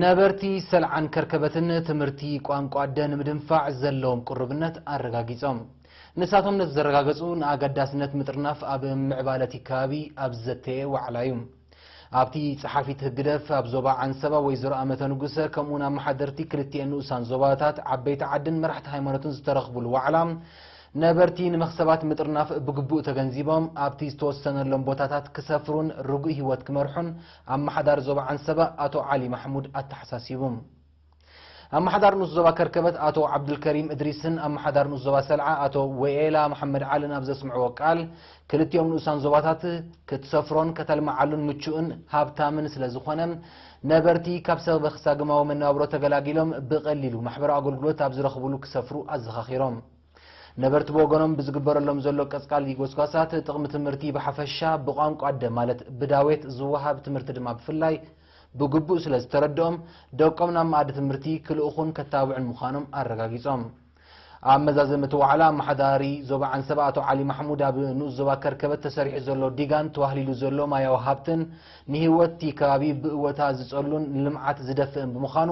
ነበርቲ ሰልዓን ከርከበትን ትምህርቲ ቋንቋ ኣደ ንምድንፋዕ ዘለዎም ቅሩብነት ኣረጋጊጾም። ንሳቶም ነዚ ዘረጋገጹ ንኣገዳስነት ምጥርናፍ ኣብ ምዕባለ እቲ ከባቢ ኣብ ዝዘተየ ዋዕላ እዩ። ኣብቲ ጸሓፊት ህግደፍ ኣብ ዞባ ዓንሰባ ወይዘሮ ኣመተ ንጉሰ ከምኡውን ኣመሓደርቲ ክልቲኤን ንኡሳን ዞባታት ዓበይቲ ዓድን መራሕቲ ሃይማኖትን ዝተረኽቡሉ ዋዕላ ነበርቲ ንመኽሰባት ምጥርናፍ ብግቡእ ተገንዚቦም ኣብቲ ዝተወሰነሎም ቦታታት ክሰፍሩን ርጉእ ህይወት ክመርሑን ኣመሓዳሪ ዞባ ዓንሰባ ኣቶ ዓሊ ማሕሙድ ኣተሓሳሲቡ። ኣመሓዳሪ ንኡስ ዞባ ከርከበት ኣቶ ዓብዱልከሪም እድሪስን ኣመሓዳሪ ንኡስ ዞባ ሰልዓ ኣቶ ወኤላ መሓመድ ዓልን ኣብ ዘስምዕዎ ቃል፣ ክልቲኦም ንኡሳን ዞባታት ክትሰፍሮን ከተልምዓሉን ምቹእን ሃብታምን ስለዝኾነ፣ ነበርቲ ካብ ሰበበ-ክሳግማዊ መነባብሮ ተገላጊሎም ብቐሊሉ ማሕበራዊ ኣገልግሎት ኣብ ዝረኽቡሉ ክሰፍሩ ኣዘኻኺሮም። ነበርቲ ብወገኖም ብዝግበረሎም ዘሎ ቀጽቃሊ ጎስጓሳት ጥቕሚ ትምህርቲ ብሓፈሻ ብቋንቋ ኣደ ማለት ብዳዌት ዝወሃብ ትምህርቲ ድማ ብፍላይ ብግቡእ ስለ ዝተረድኦም ደቆም ናብ መኣዲ ትምህርቲ ክልእኹን ከታብዑን ምዃኖም ኣረጋጊጾም። ኣብ መዛዘሚ እቲ ዋዕላ ኣመሓዳሪ ዞባ ዓንሰባ ኣቶ ዓሊ ማሕሙድ ኣብ ንኡስ ዞባ ከርከበት ተሰሪሑ ዘሎ ዲጋን ተዋህሊሉ ዘሎ ማያዊ ሃብትን ንህይወት እቲ ከባቢ ብእወታ ዝጸሉን ንልምዓት ዝደፍእን ብምዃኑ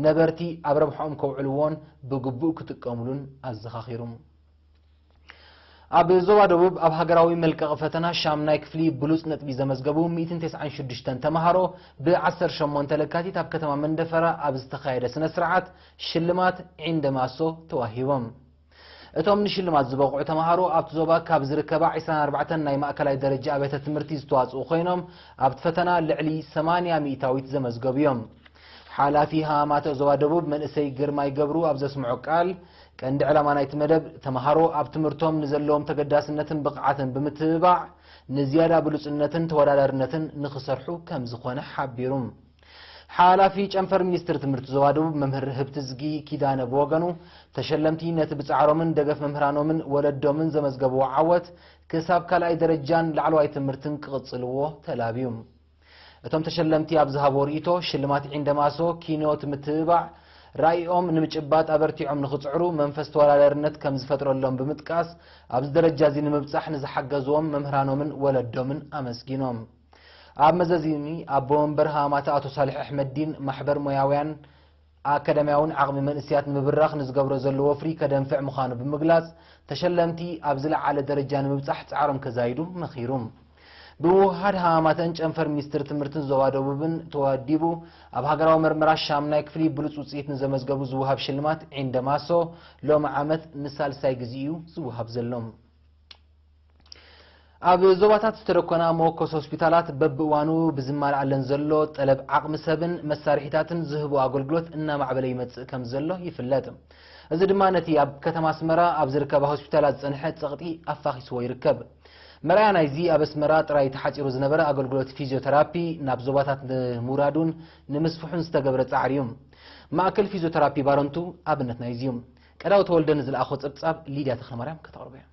ነበርቲ ኣብ ረብሐኦም ከውዕልዎን ብግቡእ ክጥቀምሉን ኣዘኻኺሩ። ኣብ ዞባ ደቡብ ኣብ ሃገራዊ መልቀቒ ፈተና ሻምናይ ክፍሊ ብሉፅ ነጥቢ ዘመዝገቡ ሚእትን ተስዓን ሽዱሽተን ተምሃሮ ብ ዓሰርተ ሸሞንተ ለካቲት ኣብ ከተማ መንደፈራ ኣብ ዝተኻየደ ስነ ስርዓት ሽልማት ዒንደ ማሶ ተዋሂቦም። እቶም ንሽልማት ዝበቕዑ ተምሃሮ ኣብቲ ዞባ ካብ ዝርከባ ዕስራን ኣርባዕተን ናይ ማእከላይ ደረጃ ኣብያተ ትምህርቲ ዝተዋጽኡ ኮይኖም ኣብቲ ፈተና ልዕሊ ሰማንያ ሚእታዊት ዘመዝገቡ እዮም። ሓላፊ ሃማማተ ዞባ ደቡብ መንእሰይ ግርማይ ገብሩ ኣብ ዘስምዖ ቃል፣ ቀንዲ ዕላማ ናይቲ መደብ ተምሃሮ ኣብ ትምህርቶም ንዘለዎም ተገዳስነትን ብቕዓትን ብምትብባዕ ንዝያዳ ብሉጽነትን ተወዳዳርነትን ንኽሰርሑ ከምዝኾነ ሓቢሩ። ሓላፊ ጨንፈር ሚኒስትሪ ትምህርቲ ዞባ ደቡብ መምህር ህብትዝጊ ኪዳነ ብወገኑ፣ ተሸለምቲ ነቲ ብጻዕሮምን ደገፍ መምህራኖምን ወለዶምን ዘመዝገብዎ ዓወት ክሳብ ካልኣይ ደረጃን ላዕለዋይ ትምህርትን ክቕጽልዎ ተላብዩ። እቶም ተሸለምቲ ኣብ ዝሃብዎ ርእይቶ፣ ሽልማት ዒንደማሶ ኪኖት ምትብባዕ፣ ራኢኦም ንምጭባጥ ኣበርቲዖም ንኽጽዕሩ መንፈስ ተወዳዳርነት ከም ዝፈጥረሎም ብምጥቃስ ኣብዚ ደረጃ እዚ ንምብጻሕ ንዝሓገዝዎም መምህራኖምን ወለዶምን ኣመስጊኖም። ኣብ መዘዚ እኒ ኣቦ መንበር ሃማማታ ኣቶ ሳልሕ ኣሕመዲን፣ ማሕበር ሞያውያን ኣካዳሚያውን ዓቕሚ መንእሰያት ንምብራኽ ንዝገብሮ ዘሎ ወፍሪ ከደንፍዕ ምዃኑ ብምግላጽ፣ ተሸለምቲ ኣብ ዝለዓለ ደረጃ ንምብጻሕ ጻዕሮም ከዛይዱ መኺሩ። ብምውህሃድ ሃማማተን ጨንፈር ሚኒስትሪ ትምህርትን ዞባ ደቡብን ተወዲቡ ኣብ ሃገራዊ መርመራ ሻምናይ ክፍሊ ብሉጽ ውጽኢት ንዘመዝገቡ ዝወሃብ ሽልማት ዒንደማሶ ሎሚ ዓመት ንሳልሳይ ግዜ'ዩ ዝወሃብ ዘሎ። ኣብ ዞባታት ዝተደኮና መወከሲ ሆስፒታላት በብእዋኑ ብዝማልኣለን ዘሎ ጠለብ ዓቕሚ ሰብን መሳርሒታትን ዝህቦ ኣገልግሎት እናማዕበለ ይመፅእ ከም ዘሎ ይፍለጥ። እዚ ድማ ነቲ ኣብ ከተማ ኣስመራ ኣብ ዝርከባ ሆስፒታላት ዝፀንሐ ፀቕጢ ኣፋኺስዎ ይርከብ። መርኣያ ናይዚ ኣብ ኣስመራ ጥራይ ተሓፂሩ ዝነበረ ኣገልግሎት ፊዚዮተራፒ ናብ ዞባታት ንምውራዱን ንምስፍሑን ዝተገብረ ፃዕሪ እዩ። ማእከል ፊዚዮተራፒ ባረንቱ ኣብነት ናይዚ እዩ። ቀዳው ተወልደ ንዝለኣኾ ፀብፃብ ሊድያ ተኽለማርያም ከተቕርቦ እያ።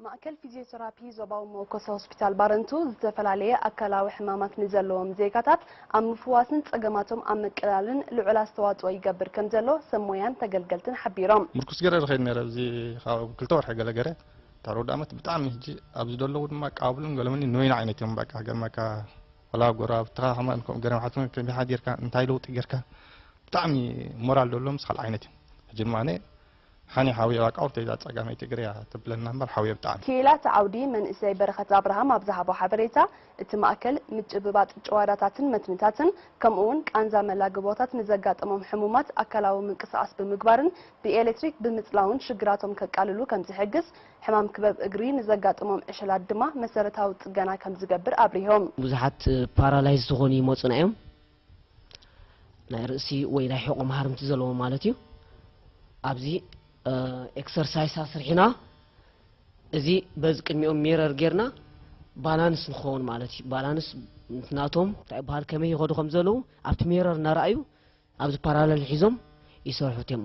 ማእከል ፊዝዮተራፒ ዞባዊ መወከሲ ሆስፒታል ባረንቱ ዝተፈላለየ ኣካላዊ ሕማማት ንዘለዎም ዜጋታት ኣብ ምፍዋስን ጸገማቶም ኣብ ምቅላልን ልዑል ኣስተዋጽኦ ይገብር ከምዘሎ ሰብ ሞያን ተገልገልትን ሓቢሮም። ሙርኩስ ገረ ዝከይድ ነረ እዚ ካብ ክልተ ወርሒ ገለ ገረ ድሕሪ ውዳመት ብጣዕሚ ህጂ ኣብዚ ደለዉ ድማ ቃብሉን ገለመኒ ንበይኑ ዓይነት እዮም በቃ ገርመካ ወላ ጎረባብትካ ከማን ከምኡ ገረ ምሓትኩም ከመይ ሓዲርካ እንታይ ለውጢ ገርካ ብጣዕሚ ሞራል ደለዎምስ ካልእ ዓይነት እዮም ህጂ ድማ ኣነ ሃኒ ሓውየ ባቃ ኦርተይ እዛ ጸጋመይ ትግረ እያ ተብለና እምበር ሓውየ ብጣዕሚ። ክኢላ እቲ ዓውዲ መንእሰይ በረኸት ኣብርሃም ኣብ ዝሃቦ ሓበሬታ፣ እቲ ማእከል ምጭብባጥ ጭዋዳታትን መትንታትን ከምኡ'ውን ቃንዛ መላግቦታት ንዘጋጠሞም ሕሙማት ኣካላዊ ምንቅስቓስ ብምግባርን ብኤሌክትሪክ ብምጽላውን ሽግራቶም ከቃልሉ ከምዝሕግዝ ሕማም ክበብ እግሪ ንዘጋጠሞም ዕሸላት ድማ መሰረታዊ ጽገና ከምዝገብር ኣብሪሆም። ብዙሓት ፓራላይዝ ዝኾኑ ይመጹና እዮም ናይ ርእሲ ወይ ናይ ሕቖ መሃርምቲ ዘለዎ ማለት እዩ ኣብዚ ኤክሰርሳይስ ኣስርሒና እዚ በዚ ቅድሚኦም ሚረር ጌርና ባላንስ ንኸውን ማለት እዩ ባላንስ ናቶም እንታይ በሃል ከመይ ይኸዱ ከም ዘለዉ ኣብቲ ሚረር እናረኣዩ ኣብዚ ፓራለል ሒዞም ይሰርሑት እዮም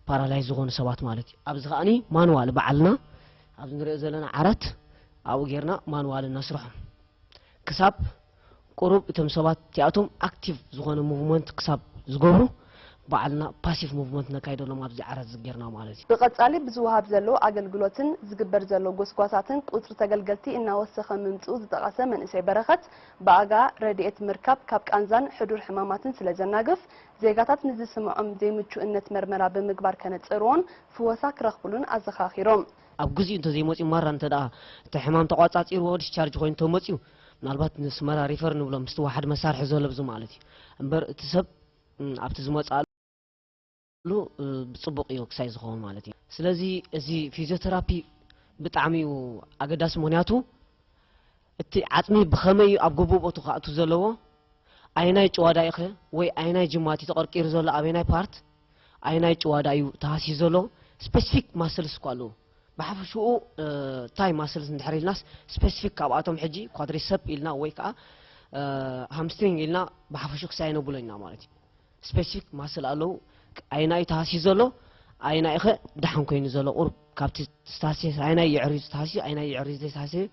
ፓራላይ ዝኾኑ ሰባት ማለት እዩ ኣብዚ ከዓኒ ማንዋል በዓልና ኣብዚ ንሪኦ ዘለና ዓራት ኣብኡ ጌርና ማንዋል እናስርሖም ክሳብ ቁሩብ እቶም ሰባት እቲኣቶም ኣክቲቭ ዝኾነ ሙቭመንት ክሳብ ዝገብሩ ባዕልና ፓሲቭ ሙቭመንት ነካይደሎም ኣብዚ ዓራት እዚ ጌርና ማለት እዩ። ብቐጻሊ ብዝወሃብ ዘሎ ኣገልግሎትን ዝግበር ዘሎ ጎስጓሳትን ቁጽሪ ተገልገልቲ እናወሰኸ ምምጽኡ ዝጠቐሰ መንእሰይ በረኸት፣ ብኣጋ ረድኤት ምርካብ ካብ ቃንዛን ሕዱር ሕማማትን ስለዘናግፍ፣ ዜጋታት ንዝስመዖም ዘይምቹእነት መርመራ ብምግባር ከነጽርዎን ፍወሳ ክረኽብሉን ኣዘኻኺሮም። ኣብ ግዚኡ እንተዘይመጽዩ ማራ እንተደኣ እቲ ሕማም ተቖጻጺርዎ ዲስቻርጅ ኮይኑ ተመጽዩ ምናልባት ንስመራ ሪፈር ንብሎ ምስቲ ዋሓድ መሳርሒ ዘለብዙ ማለት እዩ እምበር እቲ ሰብ ኣብቲ ዝመፅኣሉ ብፅቡቅ እዩ ክሳይ ዝኸውን ማለት እዩ ስለዚ እዚ ፊዚዮተራፒ ብጣዕሚ እዩ ኣገዳሲ ምክንያቱ እቲ ዓፅሚ ብኸመይ እዩ ኣብ ግቡእ ቦቱ ክኣቱ ዘለዎ ኣየናይ ጭዋዳ ኢኸ ወይ ኣየናይ ጅማት እዩ ተቐርቂሩ ዘሎ ኣበናይ ፓርት ኣየናይ ጭዋዳ እዩ ተሃሲዩ ዘሎ ስፐሲፊክ ማስልስ እኳ ኣለዉ ብሓፈሽኡ ታይ ማስልስ እንድሕር ኢልናስ ስፐሲፊክ ካብኣቶም ሕጂ ኳድሪሰፕ ኢልና ወይ ከዓ ሃምስትሪንግ ኢልና ብሓፈሽኡ ክሳይ ነብሎ ኢና ማለት እዩ ስፐሲፊክ ማስል ኣለዉ ኣየና እዩ ተሃሲዩ ዘሎ ኣየና ኢኸ ደሓን ኮይኑ ዘሎ ቁርብ ካብቲ ዝተሃስየ ኣየናይ የዕርዩ ዝተሃስዩ ኣየናይ የዕርዩ ዘይተሃስየ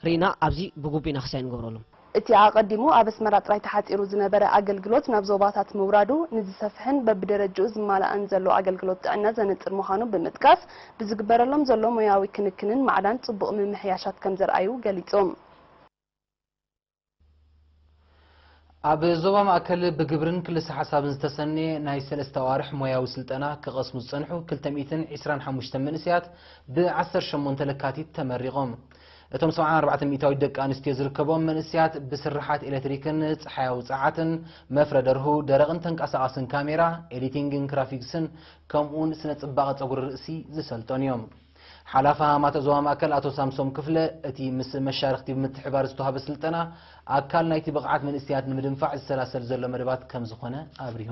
ርኢና ኣብዚ ብግቡእ ኢና ክሳይ ንገብረሎም። እቲ ኣቐዲሙ ኣብ ኣስመራ ጥራይ ተሓጺሩ ዝነበረ ኣገልግሎት ናብ ዞባታት ምውራዱ፣ ንዝሰፍሐን በብደረጅኡ ዝማላእን ዘሎ ኣገልግሎት ጥዕና ዘነጽር ምዃኑ ብምጥቃስ፣ ብዝግበረሎም ዘሎ ሞያዊ ክንክንን ማዕዳን ጽቡቕ ምምሕያሻት ከምዘርኣዩ ገሊጹ። ኣብ ዞባ ማእከል ብግብርን ክልሰ ሓሳብን ዝተሰነየ ናይ ሰለስተ ኣዋርሕ ሞያዊ ስልጠና ክቐስሙ ዝጸንሑ ክልተ ሚእትን ዕስራን ሓሙሽተን መንእሰያት ብ ዓሰርተ ሸሞንተ ለካቲት ተመሪቖም። እቶም ሰብዓን ኣርባዕተን ሚእታዊት ደቂ ኣንስትዮ ዝርከብኦም መንእሰያት ብስርሓት ኤለትሪክን ጸሓያዊ ጸዓትን፣ መፍረ ደርሁ፣ ደረቕን ተንቀሳቓስን ካሜራ፣ ኤዲቲንግን ግራፊክስን ከምኡ'ውን ስነ-ጽባቐ ጸጉሪ ርእሲ ዝሰልጠኑ እዮም። ሓላፊ ሃማመተ ዞባ ማእከል ኣቶ ሳምሶም ክፍለ፣ እቲ ምስ መሻርኽቲ ብምትሕብባር ዝተዋህበ ስልጠና፣ ኣካል ናይቲ ብቕዓት መንእሰያት ንምድንፋዕ ዝሰላሰል ዘሎ መደባት ከምዝኾነ ኣብሪሁ።